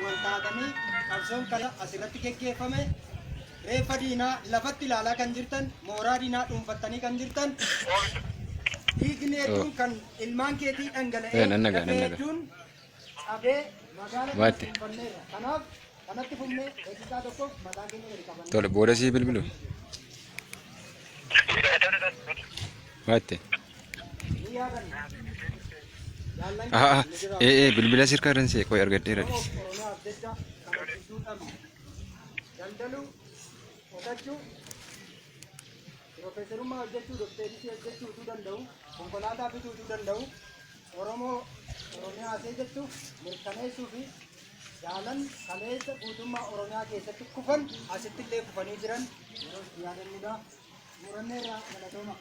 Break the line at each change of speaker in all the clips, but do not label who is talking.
waltaatanii qabsoon kana asirratti geggeeffame reeffa diinaa lafatti ilaalaa kan jirtan mooraa diinaa dhuunfattanii kan jirtan dhiigni hedduun kan ilmaan keetii Eh, nan dhangala'ee nagaa, nan dafee nagaa. hedduun cabee magaala kana Waatti. dhuunfanneerra kanaaf kanatti fufnee daqiiqaa tokkoof mataa keenya gadi qabanne Tole, booda sii bilbilu.
Waatte.
Aha, aha.
Ee, ee, bilbila sirkaa irran see qoy argadheera dhis.
Daldaluu, qotachuu, piroofeesarummaa hojjechuu, dokteerisii hojjechuu utuu danda'u, konkolaataa bituu utuu danda'u, Oromoo Oromiyaa see jettu mirkaneessuu fi jaalan kaleessa guutummaa Oromiyaa keessatti kufan asitti illee kufanii jiran yeroo itti yaadannudha. Xumuranneerraa galatooma.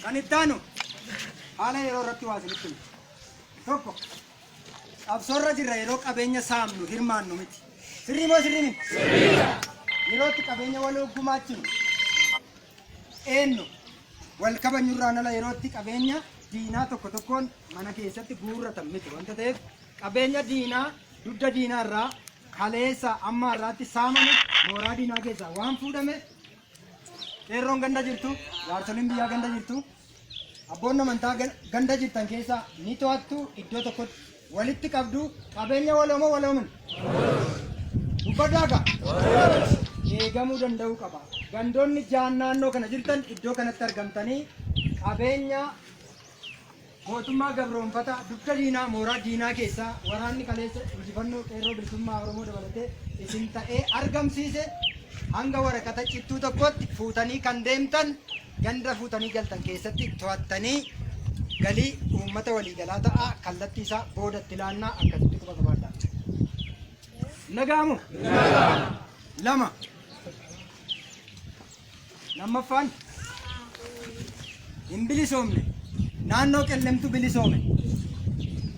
Kan itti aanu haala yeroo irratti waa isinitti himu. Tokko qabsoorra jirra yeroo qabeenya saamnu hirmaannu miti. Sirrii moo sirrii miti? Yerootti qabeenya waloo gumaachinu. eennu wal kabanyurraan ala yerootti qabeenya diinaa tokko tokkoon mana keessatti guurratan miti wanta ta'eef qabeenya diinaa dugda diinaa irraa kaleessa amma irraatti saamame mooraa diinaa keessaa waan fuudhame qeerroon ganda jirtu jaarsoliin biyyaa ganda jirtu Abboonni amantaa gan- ganda jirtan keessaa ni to'attu iddoo tokkotti walitti qabdu qabeenya waloomoo waloomin. Dubbadhaa gaa. Eegamuu danda'uu qaba. Gandoonni jaan naannoo kana jirtan iddoo kanatti argamtanii qabeenya mootummaa gabroonfataa dugda diinaa mooraa diinaa keessaa waraanni kaleessa injifannoo qeerroo bilisummaa Oromoo dabalatee isin ta'ee argamsiise hanga waraqata cittuu tokkotti fuutanii kan deemtan ganda fuutanii galtan keessatti to'attanii galii uummata waliigalaa ta'aa kallattii isaa boodatti laannaa akkasitti quba qabaadhaa. Nagaamu? Lama. Lammaffaan hin bilisoomne naannoo qellemtu bilisoome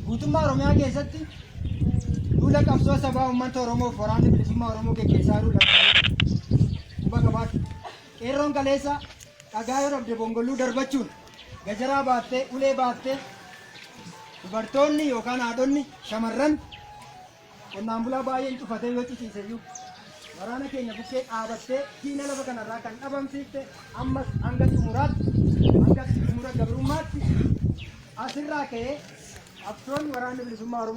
guutummaa Oromiyaa keessatti duula qabsoo sabaa uummata Oromoof waraanni bilisummaa Oromoo geggeessaa jiru lakkaalee quba qabaadha. Qeerroon kaleessa dhagaa yoo dhabde bongolluu darbachuun, gajaraa baattee, ulee baattee dubartoonni yookaan haadhonni, shamarran qonnaan bulaa baay'een cufatee yoo ciciise iyyuu waraana keenya bukkee dhaabattee diina lafa kanarraa kan dhabamsiifte ammas hanga xumuraatti, hanga xumura gabrummaatti asirraa ka'ee qabsoon waraanni bilisummaa Oromoo